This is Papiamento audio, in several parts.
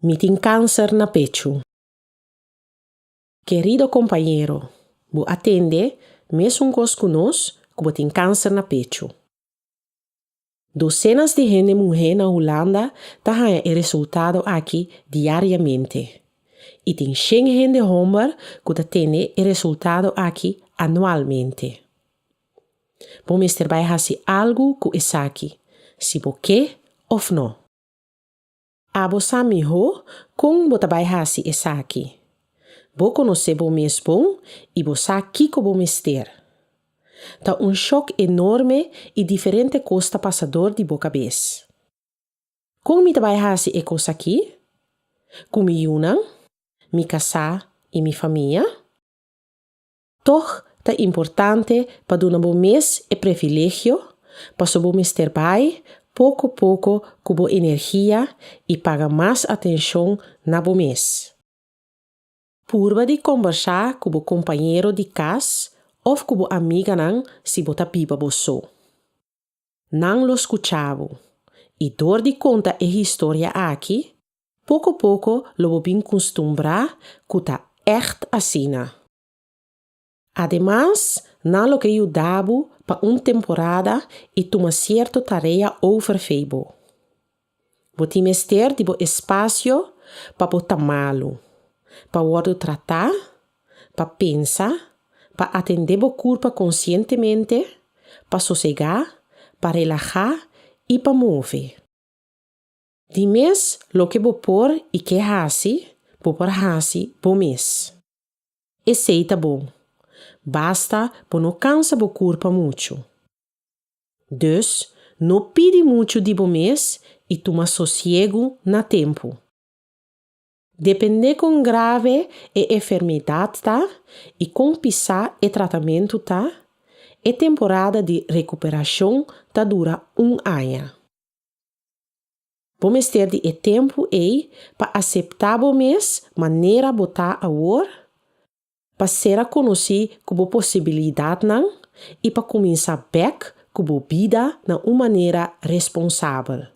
Mi tin cáncer na pechu. Querido compañero, bo a tende mesun cos cu nos cu bo tin cáncer na pechu. Docenas di hende muhé na Hulanda ta haña e resultado aki diariamente y tin shen hende homber cu ta tende e resultado aki anualmente. Bo mester bai hasi algu ku esaki, si bo ke òf nò. Abo sa mihó kon bo ta bai hasi esaki. Bo konosé bo mes bon i bo sa kiko bo mester. Ta un shòk enorme i diferente kos ta pasa dor di bo kabes. Kon mi ta bai hasi e kos aki? Ku mi yunan, mi kasá i mi famia? Tòg ta importante pa duna bo mes e privilegio pasobra bo mester bai poko poko ku bo energia i paga mas atenshon na bo mes. Purba di kombersá ku bo kompañero di kas òf ku bo amiganan si bo ta biba bo so. Nan lo skuchá bo, i dor di konta e historia aki, Poko poko lo bo bin custumbrá cu ta echt asina. Ademas, nan lo ke yuda bo pa un temporada i tuma cierto tarea over fei bo. Bo tin mester di bo espacio pa bo ta malu, pa wordo tratá, pa pensa, pa atendé bo curpa conscientemente, pa sosegá, pa relahá i pa move. Di mes loke bo por i ke hasi, bo por hasi bo mes. Esei ta bon. Basta bo no kansa bo kurpa muchu. Dus, no pidi muchu di bo mes i tuma sosiegu na tempu. Dependé kon grave e enfermeidat ta i kon pisá e tratamentu ta, e temporada di rekuperashon ta dura un aña. Bo mester di e tempu ei pa aseptá bo mes manera bo ta awor, pa ser a konosí ku bo posibilidatnan i pa kuminsá bèk ku bo bida na un manera responsabel.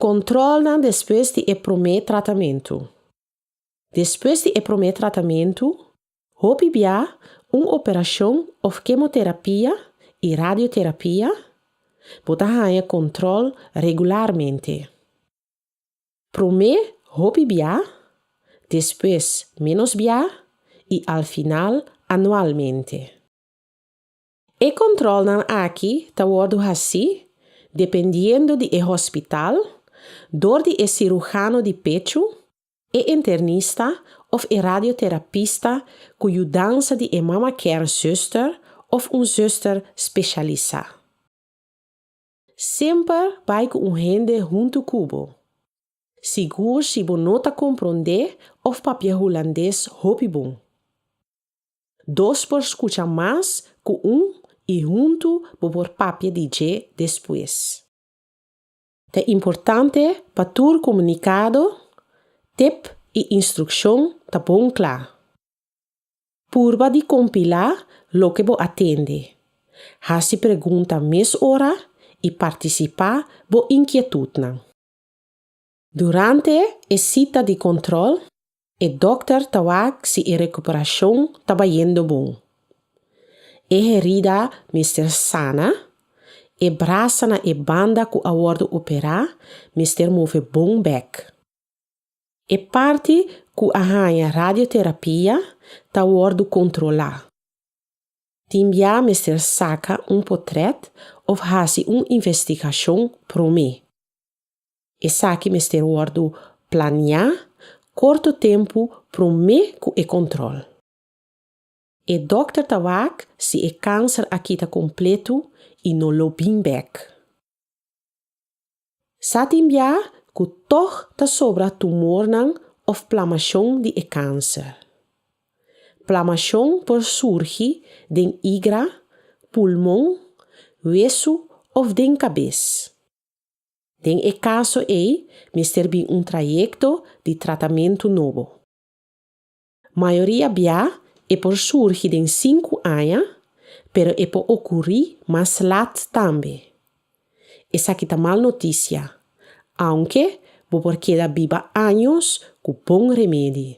Kòntròlnan despues di e promé tratamentu Despues di e promé tratamentu, Hopi bia un operashon òf kemoterapia i radioterapia bo ta haña kòntròl regularmente. Promé hopi bia, despues ménos bia i al final anualmente. E controlnan aki ta wordo haci dependiendo di e hospital, door di e cirujano di pechu, e internista of e radioterapista cu yudansa di e mama care zuster of un zuster specialisa. Semper bai ku un hende huntu ku bo. Sigur si bo no ta komprondé òf papia hulandes hopi bon. Dos por skucha mas ku un i huntu bo por papia di dje despues. Ta importante pa tur komunikado, tep i instrukshon ta bon kla. Purba di kompilá loke bo a tende. Hasi pregunta mes ora i partisipá bo inkietutnan. Durante e sita di kòntròl, e dòkter ta wak si e rekuperashon ta bayendo bon. E herida mester sana, e brasa na e banda ku a wòrdu operá mester move bon bèk. E parti ku a haña radioterapia ta wòrdu kontrolá. Tin bia mester saka un potrèt òf hasi un investigashon promé. Esaki mester wòrdu planiá korto tempu promé ku e kòntròl. E dokter ta wak si e kanser a kita kompletu i no lo bin bèk. Sa tin bia ku tòg ta sobra tumornan òf plamashon di e kanser. Plamashon por surgi den igra, pulmon, wesu òf den kabes. Den e kaso ei mester bin un trayekto di tratamentu nobo. Mayoria bia e por surgi den sinku aña, pero e por okurí mas lat tambe. Esaki ta mal notisia, aunke bo por keda biba años ku bon remedi.